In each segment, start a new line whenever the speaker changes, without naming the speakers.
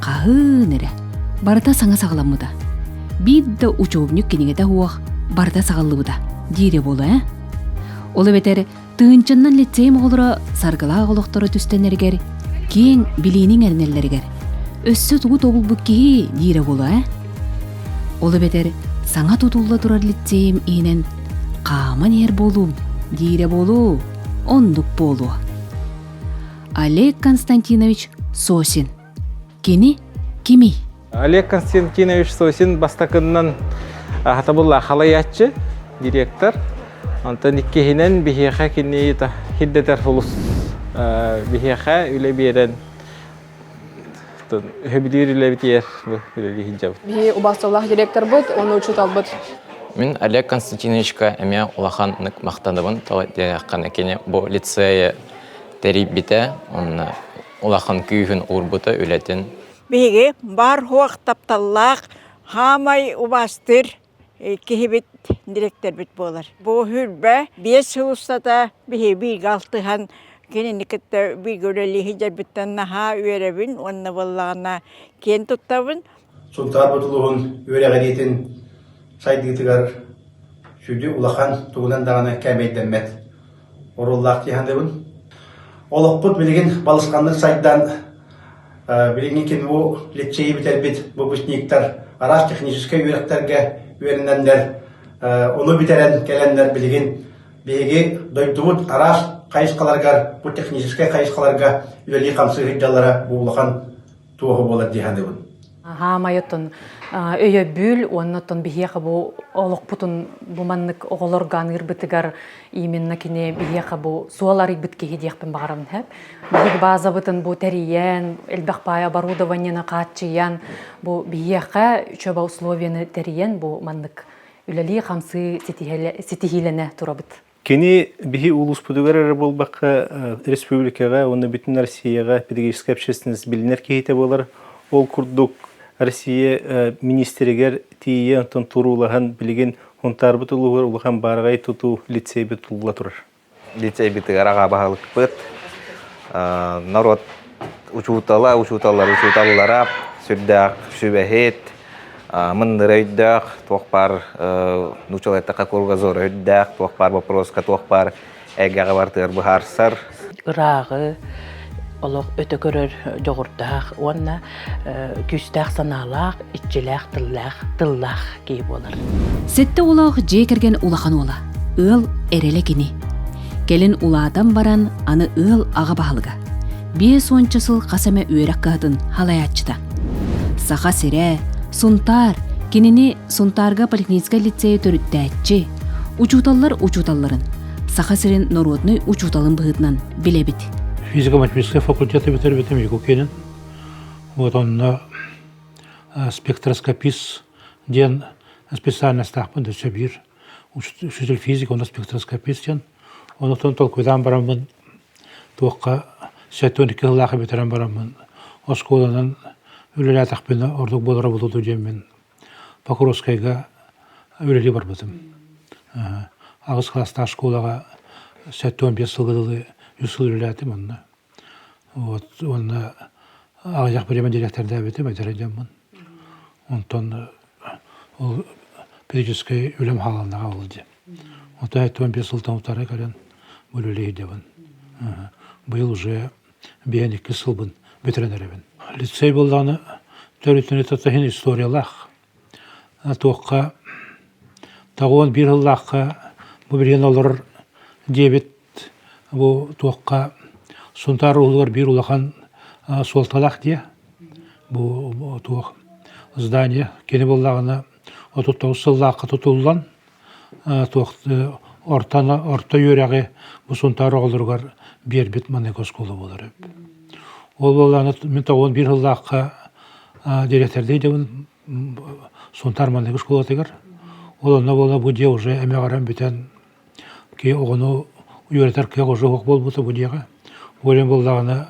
хаһыын эрэ барыта саҥа саҕаламмыта биир да учебник кинигэтэ уох барыта саҕаллыбыта диири буолуо ээ ол эбэтэр тыынчыннан лицей оҕолоро саргылаах олохторо түстэннэригэр киэҥ билииниҥ эрэнэллэригэр өссө тугу тобулбут киһи диирэ буолуо ээ ол эбэтэр саҥа тутулла турар лицейим иһинэн хааман иһэр буолуум диирэ буолуу оннук буолуо Олег Константинович Сосин. Кини кимий? Олег Константинович Сосин бастакыннан ахатабылла халаяччы директор. Онтон иккиһинэн биһиэхэ кини хирдэтэр улус биһиэхэ үлэ биэрэн өһөбүлүүр үлэбитигэр үлэлиһинжабыт. Бии убастыллах директорбут, оны учуталбыт. Мин Олег Константиновичка эмиэ улахан нык махтаныбын. Тала диэххэне кини бу лицее тэрийбитэ уонна улахан күүһүн уурбута үлэтин Биһиги баар-хуох тапталлаах хаамай убаастыыр киһибит, дириэктэрбит буолар. Бу сүүрбэ биэс сыл устата биһиги алтыһан кинини кытта бииргэ үлэлии сылдьарбыттан наһаа үөрэбин уонна буоллаҕына киэн туттабын. Сунтаар Бутулуһун үөрэҕириитин сайдыытыгар сүдү улахан тугунан даҕаны кээмэйдэммэт оруоллаах дии саныыбын. Олохпут билигин балысханнык сайдан, билиҥҥи кэми бу лиссиэйи бүтэрбит бу выпускниктар араас техническэй үөрэхтэргэ үөрэнэннэр, ону бүтэрэн кэлэннэр билигин биһиги дойдубут араас хайысхаларыгар, бу техническэй хайысхаларга үлэлии-хамсыы сылдьаллара бу улахан туоһу буолар дии саныыбын хаамай оттон өйөбүл уонна оттон биһиэхэ бу олохпутун бу маннык оҕолор ганыырбытыгар именно кини биһиэхэ бу суол арыйбыт киһи диэхпин баҕарам сэп биһиги баазабытын бу тэрийэн элбэх паайа оборудованиены хааччыйан бу биһиэхэ үчөбө условиены тэрийэн бу маннык үлэлии хамсыы ситиһилэнэ турабыт Кини биһи улууспутугар эрэ буолбакка, республикаҕа уонна бүтүн Россияҕа педагогическай общественность билинэр киһитэ буолар. Ол курдук Россия министригэр тиийэ онтон туруулаһан билигин Унтаарбыт улууһугар улахан баараҕай тутуу лицейбит тулла турар. Лицейбитигэр аҕа баһылыкпыт, норуот учуутала, учууталлар учууталлара сүрдээх сүбэһит, мындыр өйдөөх, туох баар научалайтака кругозора өйдөөх, туох баар боппуруоска, туох баар эйгэҕэ бартыгар быһаарсар. Ырааҕы олох өтө көрөр дьоҕурдаах уонна күүстээх санаалаах, иччилээх, тыллаах, тыллаах киһи буолар. Сэттэ улаах дьиэ кэргэн улахан уола, ыал эрэлэ кини. Кэлин улаатан баран аны ыал аҕа баһылыга. Биэс уонча сыл хас эмэ үөрэх кыһатын халаяччыта. Саха сирэ, Сунтаар, кинини Сунтаарга поликлиническай лицейе төрүттээччи, учууталлар учууталларын, Саха сирин норуодунай учууталын быһыытынан билэбит. Физико-математическай факультеты бүтэрбитим Якукинин. Вот онно спектроскопист диэн специальностаахпын да сөбүлүүр учитель физика уонна спектроскопист диэн онутун толкуйдаан бараммын туохха сэттэ он икки сыллаах бүтэрэн бараммын оскуоланан үлэлээтэхпинэ ордук буолара буолуо дуу диэммин покровскайга үлэлии барбытым аҕыс кылаастаах школаҕа сэттэ он биэс сылга дылы үс сыл үлэлээтим онно Вот уонна аҕыйах бириэмэ дириэктэрдээбитим эдэрэй дьоммун. Онтон ол периодическай үлэм хааланнаҕа ол дьэ. Оттон эттэн биэс сылтан утары көрөн үлэлиһидэбин. Быйыл уже биһэн иккис сылбын бүтэрэн эрэбин. Лицей буоллаҕына төрүт историялаах Туохха тоҕуон биир сыллаахха бу билигин олорор диэбит бу туохха Сунтаар уулугар биир улахан суолталаах дии бу туох здание кини буоллаҕына отут тоҕус сыллаахха тутуллан туох орто орто үөрэҕи бу Сунтаар оҕолоругар биэрбит манык оскуола буолар эбит. Ол буоллааны мин тоҕуон биир сыллаахха дириэктэрдии дебин Сунтаар манык оскуолатыгар ол онно буола бу дьиэ уже эмэҕирэн бүтэн ки оҕону үөрэтэр кыах уже уһук буолбута бу дьиэҕэ буолан буоллаҕына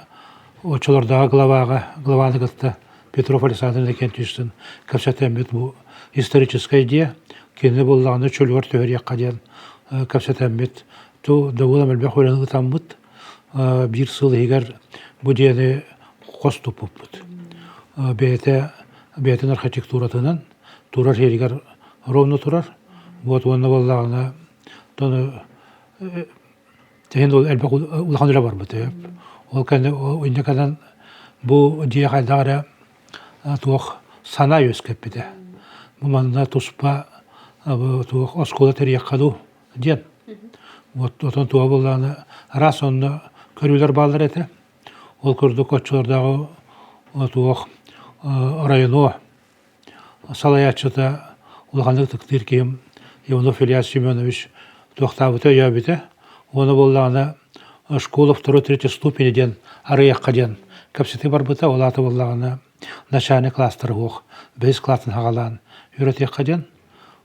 оччолордооҕу главаҕа главаны кытта Петров Александр Иннокентьевич Устин кэпсэтэммит бу историческая идея кини буллаҕына чөлүгэр түһэриэххэ диэн кэпсэтэммит ту дабыылам элбэх үлэни ытаммыт биир сыл иһигэр бу диэни хос туппуппут бэйэтэ бэйэтин архитектуратынан турар сиэригэр ровно турар вот уонна буоллаҕына тону Тиһин ол элбэх улахан үлэ барбыт үһү. Ол кэнни инде кэлэн бу дьиэ хайдах эрэ туох сана үөскэппитэ. Бу манна туспа туох оскуола тэрийэххэ дуу диэн. Вот отон туох буоллаҕына раз онно көрүүлэр бааллар этэ. Ол курдук оччолордооҕу туох оройуну салайааччыта улаханнык ытыктыыр киһим Иванов Ильяс Семенович туохтаабыта өйөөбүтэ уонна буоллаҕына школа второй третьей ступени диэн арыйахха диэн кэпсэтии барбыта ол аата буоллаҕына начальник кластара суох бэһис классны саҕалаан үөрэтиэххэ диэн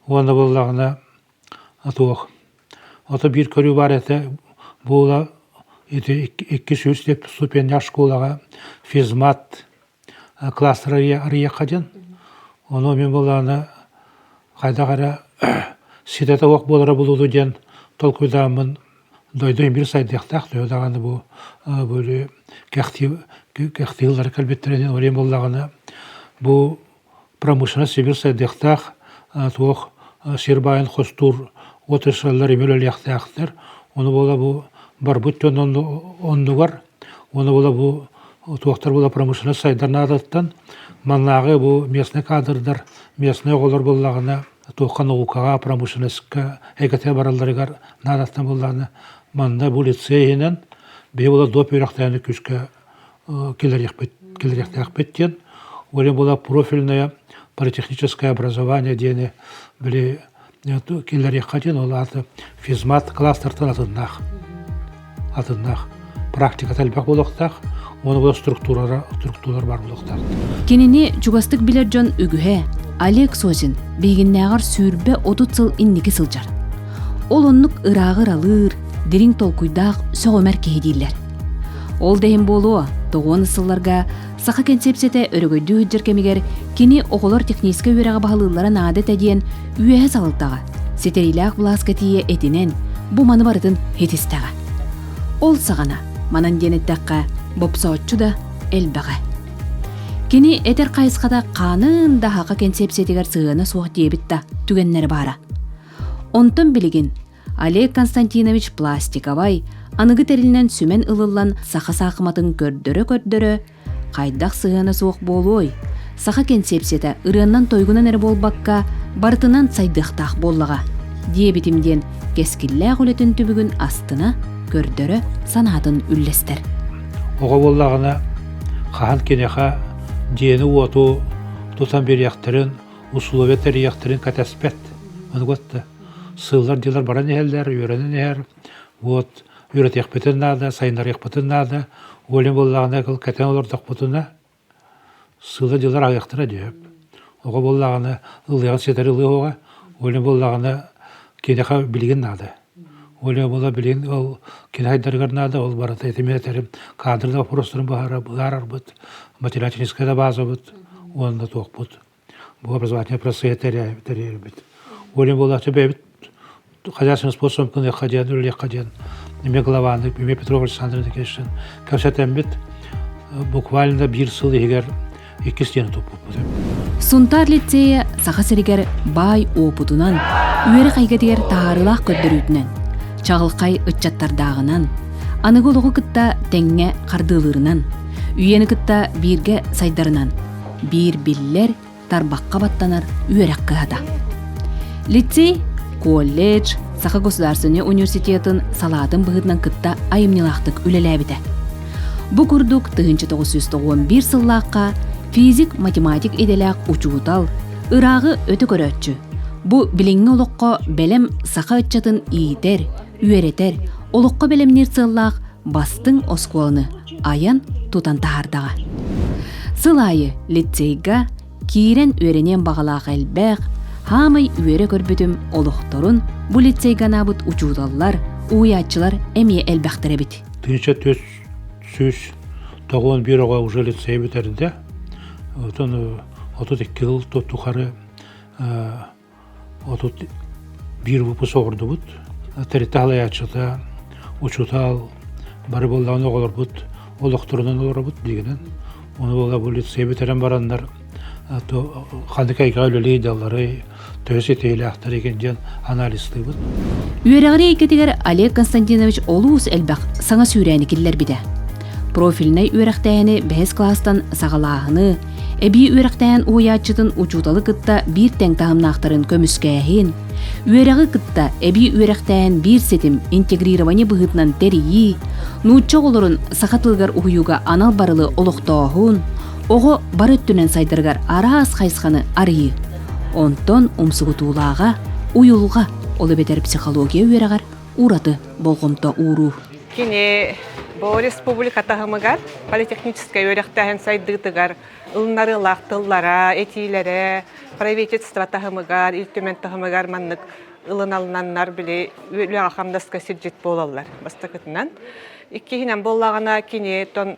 уонна буоллаҕына туох ото биир көрүү баар этэ буола ити икки сүүс ступеннээх школаҕа физмат Кылаастар арыйахха дьон, ону мин былаана хайдах эрэ ситэтэ уох буолара булулу диэн толкуйдааммын дойдум биир сайдыахтаах төһө даҕаны бу кэхтии кэхтии тыллары кэлбиттэрэ диэн уруйум буоллаҕына бу промышленность сибир сайдыахтаах туох сир баайын хостуур отрасльлар имир үлэлиэхтээхтэр ону буола бу барбыт дьон оннугар уону буола бу туохтар була промышленность сайдар наадаттан маннааҕы бу местный кадрдар местный оҕолор буллаҕына туохха наукаҕа промышленностька эйгэтэ баралларыгар наадаттан буллаҕына манна бу лицей иһинэн биһи була доп үөрэхтээни күскэ кэлэриэхпит кэлэриэхтээхпит диэн волейбола профильное политехническое образование диэни били киллэриэххэ диэн ол аата физмат кластертан атыннаах атыннаах практиката элбэх буолуохтаах уонна структуралар структуралар баар буолуохтаах кинини чугастык билэр дьон үгүһэ олег созин биһигиннээҕэр сүүрбэ отут сыл инники сылдьар ол оннук ырааҕы ыралыыр дириҥ толкуйдаах сөҕүмэр киһи дииллэр Ол да иһин буолуо, тоҕуонус сылларга саха кэнсиэпситэ өрөгөйдүү сылдьар кэмигэр кини оҕолор техническэ үөрэҕи баһылыыллара наада этэ диэн үөһэ салалтаҕа, ситэриилээх былааска тиийэ этинэн, бу маны барытын итистэҕэ. Ол саҕана, манан диэн эттэххэ, бопсооччу да элбэҕэ. Кини этэр хайысхата хаанын да аха кэнсиэпсиэтигэр сыһыана суох диэбит да түгэннэрэ баара. Онтон билигин Олег Константинович пластиковай, аныгы тэрилинэн сүмэн ылыллан саха саахыматын көрдөрө-көрдөрө хайдах сыһыана суох буолуой? Саха кэнсиэпсийэтэ ырыаннан-тойгунан эрэ буолбакка, барытынан сайдыахтаах буоллаҕа. диэбитим диэн кэскиллээх үлэтин түбүгүн астына, көрдөрө, санаатын үллэстэр. Оҕо буоллаҕына хаһан киниэхэ дьиэни-уоту тутан биэриэхтэрин, усулуобуйа тэрийиэхтэрин кэтэспэт. Ону сыллар-дьылар баран иһэллэр, үөрэнэн иһэр. Вот үөрэтиэхпитин наада, сайыннарыахпытын наада. Ойлан буоллаҕына кыл кэтэн олордохпутуна сыла-дьылар аҕыйахтара дөп. Оҕо буоллаҕына ылыаҕын ситэри ылыаҕа. Ойлан буоллаҕына киниэхэ билигин наада. Ойлан буола билигин ол киниэхайдарыгар наада, ол барыта этимин этэрим кадрный вопростарын быһаарарбыт, математическай да баазабыт уонна туохпут Бу образовательный процесс тэрээбит, тэрийэрбит. Уолим буолааччы бэйэбит хозяйственным способом кыныахха диэн, үлэлиэххэ диэн эмиэ главаннык, эмиэ Петров Александр Никитичтэн кэпсэтэммит. Буквально биир сыл иһигэр икки стена туппуппут. Сунтаар лицея Саха сиригэр баай опытынан, үөрэх эйгэтигэр таһаарыылаах көрдөрүүтүнэн, чаҕылхай ыччаттардааҕынан, аныгы олоҕу кытта тэҥҥэ хардыылыырынан, үйэни кытта бииргэ сайдарынан биир биллэр тарбахха баттанар үөрэх кыһата. Лицей, колледж, Саха государственнай университетын салаатын быһыытынан кытта айымньылаахтык үлэлээбитэ. Бу курдук тыһыынча тоҕус жүз тоҕуон биир сыллаахха физик-математик идэлээх учуутал, ырааҕы өтө көрөөччү, бу билиҥҥи олоххо бэлэм саха ыччатын иитэр, үөрэтэр, олоххо бэлэмниир сыаллаах бастыҥ оскуоланы айан, тутан таһаардаҕа. Сыл аайы лицейга киирэн үөрэниэн баҕалаах элбэх, хаамай үөрэ көрбүтүм олохторун бу лицейгэ анаабыт учууталлар, уйааччылар эмиэ элбэхтэр эбит. 1991 оҕо уже лицей бүтэрдэ. Отон отут икки ыл тухары Отут биир выпуск оҥордубут. Тэрилтэ салайааччыта, учуутал бары буоллаҕына оҕолорбут олохторунан олоробут дигэнэн ону буола полиция бүтэрэн бараннар ханнык эйгэҕэ үлэлии далларый төһө ситиһиилээхтэрий диэн анализтыыбыт. Үөрэҕирии эйгэтигэр Олег Константинович олус элбэх саҥа сүүрээни киллэрбитэ. Профильнай үөрэхтээһини бэһис класстан саҕалааһыны, эбии үөрэхтэһэн уһуйааччытын учууталы кытта биир тэҥ таһымнаахтарын көмүскээһин, үөрэҕи кытта эбии үөрэхтэһэн биир ситим интегрирование быһыытынан тэрийии, нуучча оҕолорун саха тылыгар уһуйууга анал барылы олохтооһун, оҕо бары өттүнэн сайдарыгар араас хайысханы арыйыы. Онтон умсугутуулааҕа, уйулҕа ол эбэтэр психология үөрэҕэр ураты болҕомто ууруу. Кини бу республика таһымыгар политехническэй үөрэхтээһин сайдыытыгар ылынарыылаах тыллара, этиилэрэ правительство таһымыгар, Ил Түмэн таһымыгар маннык ылыналланнар били үлэҕэ-хамнаска сирдьит буолаллар бастакытынан. Иккиһинэн буоллаҕына кини тон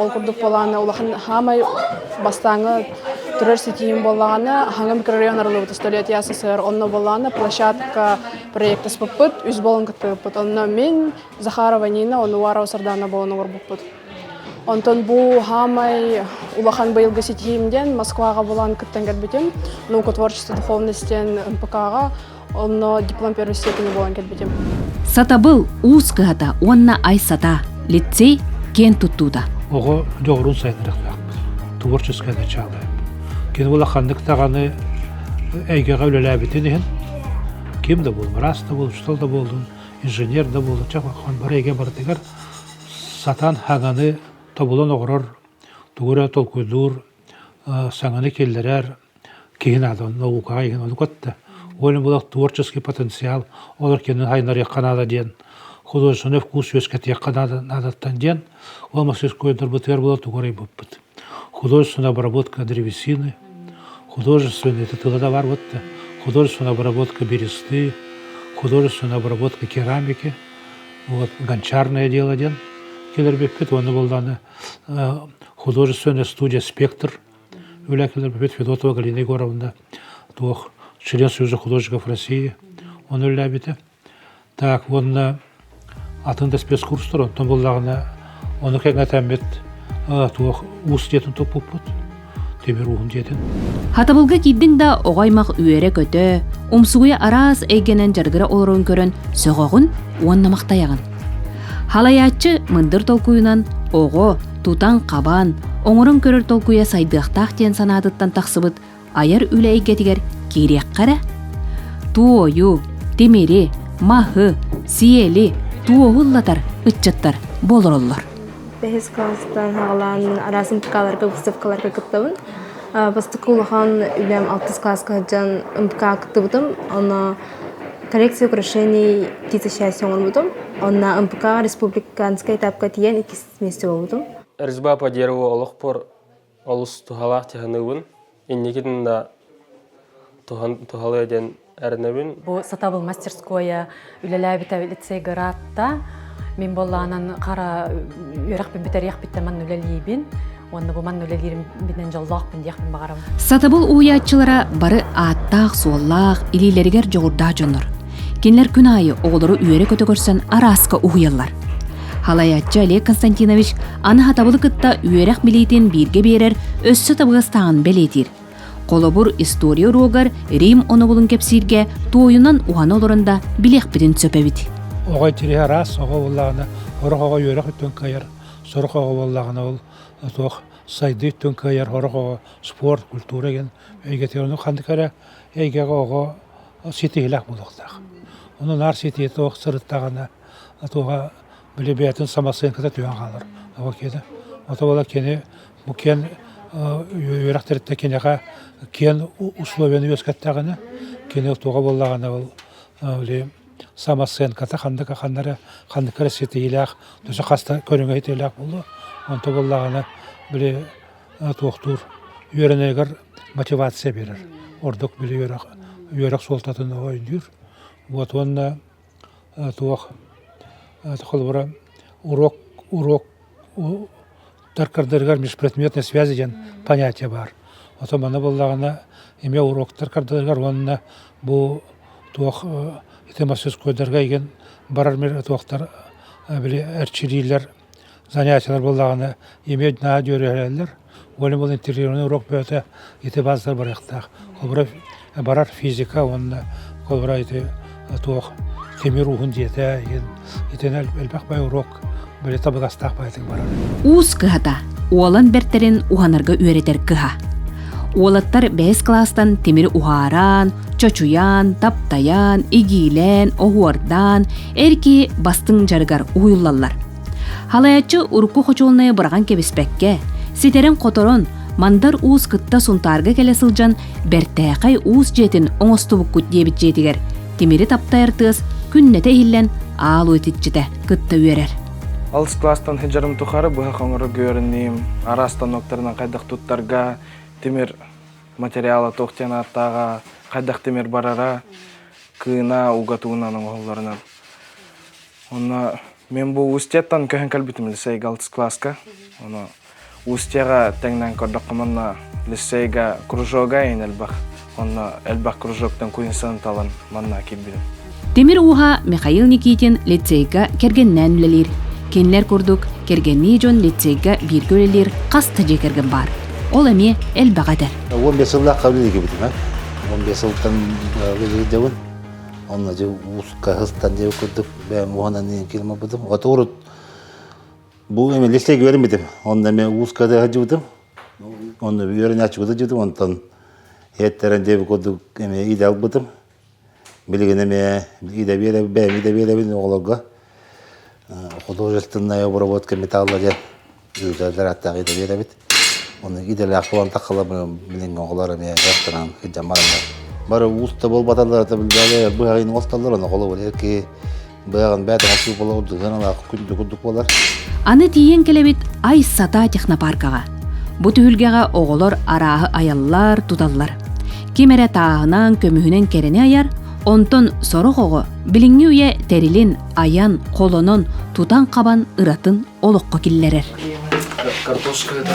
Ол курдук буолааны улахан хаамай бастааҥы турар ситиим буоллаҕына Хаҥа микрорайон арылыбыт столетия СССР онно буоллааны площадка проектаспыппыт үс буолан кыттыбыппыт онно мин Захарова Нина Онуарова Сардаана буолан олорбуппут Онтон бу хаамай улахан быйылгы ситиһиим диэн Москваҕа булан кыттан кэлбитим наука творчество духовности НПК-ҕа Онно дипломпер өссө күні болан кетбетим. Сатабыл уус кыһата уонна ай сата лицей киэн туттуута. Оҕо дьоҕурун сайынырахтаахпыт. Творческай начаалы. Кини була ханнык даҕаны эйгэҕэ үлэлээбитин иһин ким да буол, раз да буол, что да болдун, инженер да буол, чахман бары эйгэ барытыгар сатан хананы тобулан оҕорор, тугу эрэ толкуйдуур, саҥаны киллэрэр киһи наада онно наукаҕа иһин ону кытта уонна булах творческий потенциал олор кинини сайыннарыахха наада диэн художественный вкус үөскэтиэххэ наада наадаттан диэн ол мастерской дорбутугар була тугу арыйбыппыт художественная обработка древесины художественный это тылада барбыт да художественная обработка бересты художественная обработка керамики вот гончарное дело диэн килэрбиппит уонна булданы художественный студия спектр үлэ кэлэрбит Федотова Галина Егоровна туох член Союза художников России оны үллээбитэ так уонна атын да спецкурстар онтон буллаҕына ону кэҥэтэммит туох уус диэтин туппуппут Тимир ууһум дьиэтин. Хатабылга киирдиҥ да оҕо аймах үөрэ-көтө, умсугуйа араас эйгэнэн дьарыгыра олорон көрөн сөҕөҕүн уонна махтайаҕын. Халайааччы мындыр толкуйунан оҕо, тутан-хабан, оҥорон көрөр толкуйа сайдыахтаах диэн санаатыттан тахсыбыт айар үлэ эйгэтигэр киириэххэ эрэ. Туойу, тимири, маһы, сиэли, туоһу ыллатар ыччаттар буолароллор. бэһис класстан саҕалаан араасым ТК-ларга, выставкаларга кыттабын. бастакы улахан үлэм алтыс кылааска сылдьан МК кыттыбытым. Онно коррекция украшений киса счастья оҥорбутум. Онно МПК-ҕа республиканскай этапка тиийэн иккис месте буолбутум. Резьба по дереву олохпор олус туһалаах тыһаныыбын инникитин да туһалыа диэн эрэнэбин бу сатабыл мастерскойа үлэлээбитэ лицей гыраатта мин боллаанан хара үөрэх бүтэриэхпиттэн манна үлэлиибин уонна бу манна үлэлиирим биден дьоллоохпун диэхпин баҕарабын сатабыл уйааччылара бары ааттаах суоллаах илиилэригэр дьоҕурдаах дьоннор Кинилэр күн аайы оҕолору үөрэ-көтө көрсөн арааска уһуйаллар. Халайааччы Олег Константинович аны хатабылы кытта үөрэх билиитин бииргэ биэрэр өссө табыгастааҕын бэлиэтиир. Холобур, история уруогар Рим онобулун кэпсииргэ туойунан уһана олорон да билиэхпитин сөп эбит. Оҕо тириһи араас оҕо буоллаҕына, орох оҕо үөрэх үттүн кыайар, сорох оҕо буоллаҕына ол суох сайдыы үттүн кыайар, орох оҕо спорт, культура деген эйгэтигэр ханнык эрэ эйгэҕэ оҕо Ол ситиһилэх буолуохтаах. Ону наар ситиһэ туох сырыттаҕына, туоха били бэйэтин самосыанката түһэн хаалар. Оҕо киэнэ. Ото буола кини бу киэн үөрэх тэрилтэ киниэхэ киэн условиены үөскэттэҕинэ, кини туоха буоллаҕына ол били самосыанката ханнык ханна эрэ ханнык эрэ ситиһиилээх, төсө хаста көрүҥэ ситиһиилээх буолуо. Онто буоллаҕына били туохтуур үөрэнэригэр мотивация берер. Ордук били үөрэх, үөрэх суолтатын өйдүүр. Вот уонна туох холобура уруок уруок таркардырыгар межпредметной связи диэн понятие баар. Ото маны буллаҕына эмиэ уруоктар кардыларыгар уонна бу туох ити массыскойдарга игин барар мир туохтар били эрчилиилэр занятиелар буоллаҕына имеют наһаа дьүөрүһэлэллэр волейбол интегрированный урок бөҕөтө ити баазалар барыахтаах холобура барар физика уонна холобура ити туох тимир ууһун дьиэтэ итинэн элбэх бай уруок били табыгастаах баайтык барар уус кыһата уолан бэртэрин уһанарга үөрэтэр кыһа уолаттар бэһис кластан тимир уһаараан чочуйаан таптайаан игиилээн оһуордаан эр киһи бастыҥ дьарыгар уһуйуллаллар. Халааччы урукку хочуолунайы быраҕан кэбиспэккэ, ситэрин-хоторон, Мандар уус кытта Сунтаарга кэлэ сылдьан Бэртээхэй уус дьиэтин оҥостубуккут диэбит дьиэтигэр тимири таптайар тыас күннэтэ иһиллэн аал уитиччитэ кытта үөрэр. Алыс класстан хыдьарым тухары быһа хоҥоро гүөрүннүүм, араас станоктарынан хайдах туттарга, тимир материала туох диэн ааттааҕа, хайдах тимир барара, кыына уга туунан оҥоһулларынан онно мен бу устьеттан көһөн кэлбитим лицейга алтыс класска ону устьега тэҥнэн көрдөххө манна лицейга кружога ин элбах онно элбах кружоктан куинсаны талан манна кирбирим Темир ууһа Михаил Никитин лицейга кэргэннээн үлэлиир. Кинилэр курдук кэргэннии дьон лицейга бииргэ үлэлиир хас да дьиэ кэргэн баар. Ол эмиэ элбэх этэр. Уон биэс сыллаахха үлэлигибитинэн. Уон биэс сылтан үлэлиирдэбин. Онно дьэ ууска сыстан дьэ курдук бэйэм уһанан ийэм киирим барбытым. Ото урут бу эмэлисle үөрэммитим. Онно эмэ ууска да сылдьыбытым. Онно үөрэнээччигэ да дьыдым. Онтон эттэрэн дьэ курдук эмэ идэ албытым. Билигин эмиэ Идэбиэлэбин оҕолорго художественная обработка металла диэн үүтэрдэр ааттаах идэбиэлэбит. Ону идэлээх таланта халабын билиҥ оҕолор эмиэ дьарыктанан дьаммар эмиэ бары ууста буолбаталлар это быһаҕын оҥостоллор ону холобур Быйагын бэт асыы бола урдудан алаах күндү курдук болар. Аны тиийэн кэлэбит ай сата технопаркаҕа. Бу түһүлгэҕэ оҕолор арааһы айаллар, туталлар. Ким эрэ тааһынан, көмүһүнэн кэрэни айар, онтон сорох оҕо билиҥҥи үйэ тэрилин айан, холонон, тутан-хабан ыратын олоххо киллэрэр. Картошка это.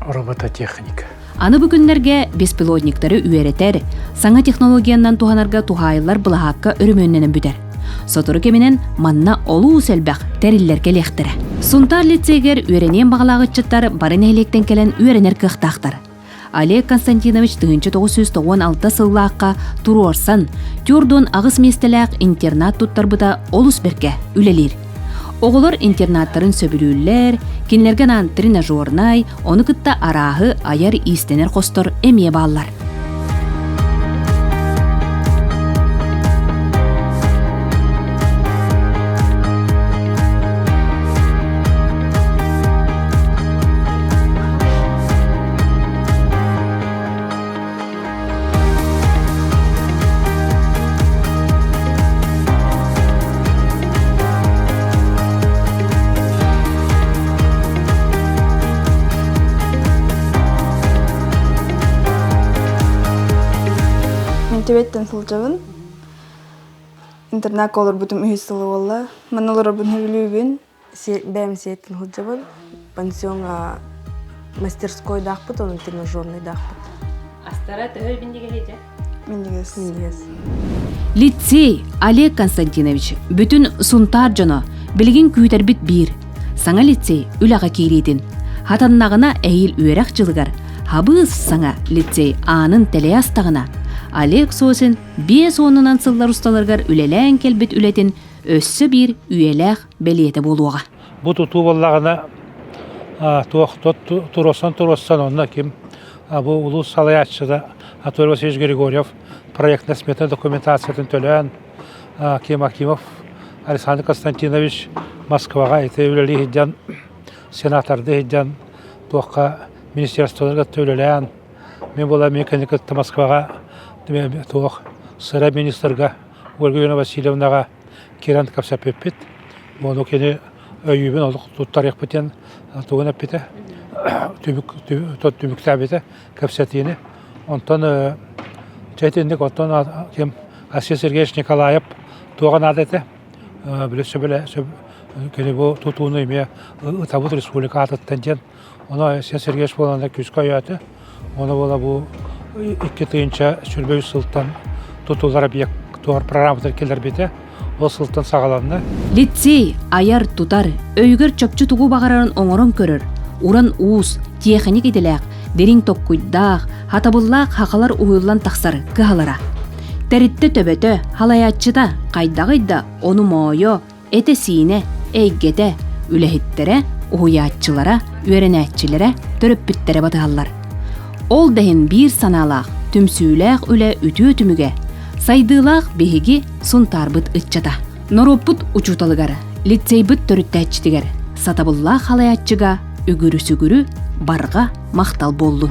робототехника. Аны бу күннэргэ беспилотниктары үөрэтэр, саҥа технологиянан туһанарга туһаайыллар былаһаакка өрөмүөннэнэн бүтэр. Сотору кэминэн манна олуус элбэх тэриллэр кэлиэхтэрэ. Сунтаар лицейгэр үөрэниэн баҕалаах ыччаттар бары нэһилиэктэн кэлэн үөрэнэр кыахтаахтар. Олег Константинович тыһыынча тоҕус сүүс тоҕуон алта сыллаахха туруорсан, Тюрдун аҕыс миэстэлээх интернат туттарбыта олус бэркэ үлэлиир. Оҕолор интернаттарын сөбүлүүллэр, кинилэргэ анаан тренажернай, ону кытта арааһы айар иистэнэр хостор эмиэ бааллар. Түбеттен сылдьабын. Интернакка олорбутум үһүс сыл буолла. Манна олорорбун сөбүлүүбүн. бэйэм сиэттим сылдьабын пансионҥа мастерскойдаахпыт онон тренажернайдаахпыт астара төһө минньигэс дьэ минньигэс минньигэс лицей олег константинович бүтүн сунтаар дьоно билигин күүтэрбит биир саҥа лицей үлэҕэ киириитин хатаннаҕына эһиил үөрэх дьылыгар хабыыс саҥа лицей аанын тэлэйэ астаҕына олег сосин биэс уонунан сыллар усталарыгар үлэлээн кэлбит үлэтин өссө биир үйэлээх бэлиэтэ буолуоҕа. Бу тутуу буоллаҕына туохтон туруорсан онно ким бу улуус салайааччыта Артур Васильевич Григорьев проектно-сметная документациятын төлөөн Ким Акимов Александр Константинович Москваҕа ити үлэлии сылдьан сенаторды сылдьан туохха министерстволарга үлэлээн мен була мен кэнни кытта Москваҕа туох сыра министрга Ольга Васильевнаҕа киирэн кэпсэппиппит. Ону кини өйүүбүн олох туттарыахпыт диэн тугун эппитэ. түбүк, түбүк, түбүктээбитэ кэпсэтиини. Онтон чэ итинник оттон ким Асия Сергеевич Николаев туоҕа наада этэ. Били сөбүлэ кини бу тутууну эмиэ ытабыт республика аатыттан диэн Онно Сергеевич буолан күүскэ ойоото. Ону буола бу икки тыһыынча сүлбэ үс сылтан тутулар объектуар программатыгар киллэрбитэ. Ол сылтан саҕаланна. Лицей айар-тутар, өйүгэр чопчу тугу баҕарарын оҥорон көрөр, уран уус, тиэхиньик идэлээх, дириҥ токкуйдаах, хатабыллаах хахалар уһуйуллан тахсар кыһалара. Тэрилтэ төбөтө, халайааччыта хайдаҕый да ону моойо, Этэ-сиинэ, эйгэтэ, үлэһиттэрэ, уһуйааччылара, үөрэнээччилэрэ төрөппүттэрэ батыһаллар. Ол да иһин биир санаалаах, түмсүүлээх үлэ үтүө түмүгэ, сайдыылаах биһиги Сунтаарбыт ыччата. Норуоппут учууталыгар, лицейбыт төрүттээччитигэр, сатабыллаах халайааччыга үгүрү-сүгүрү барҕа махтал буоллун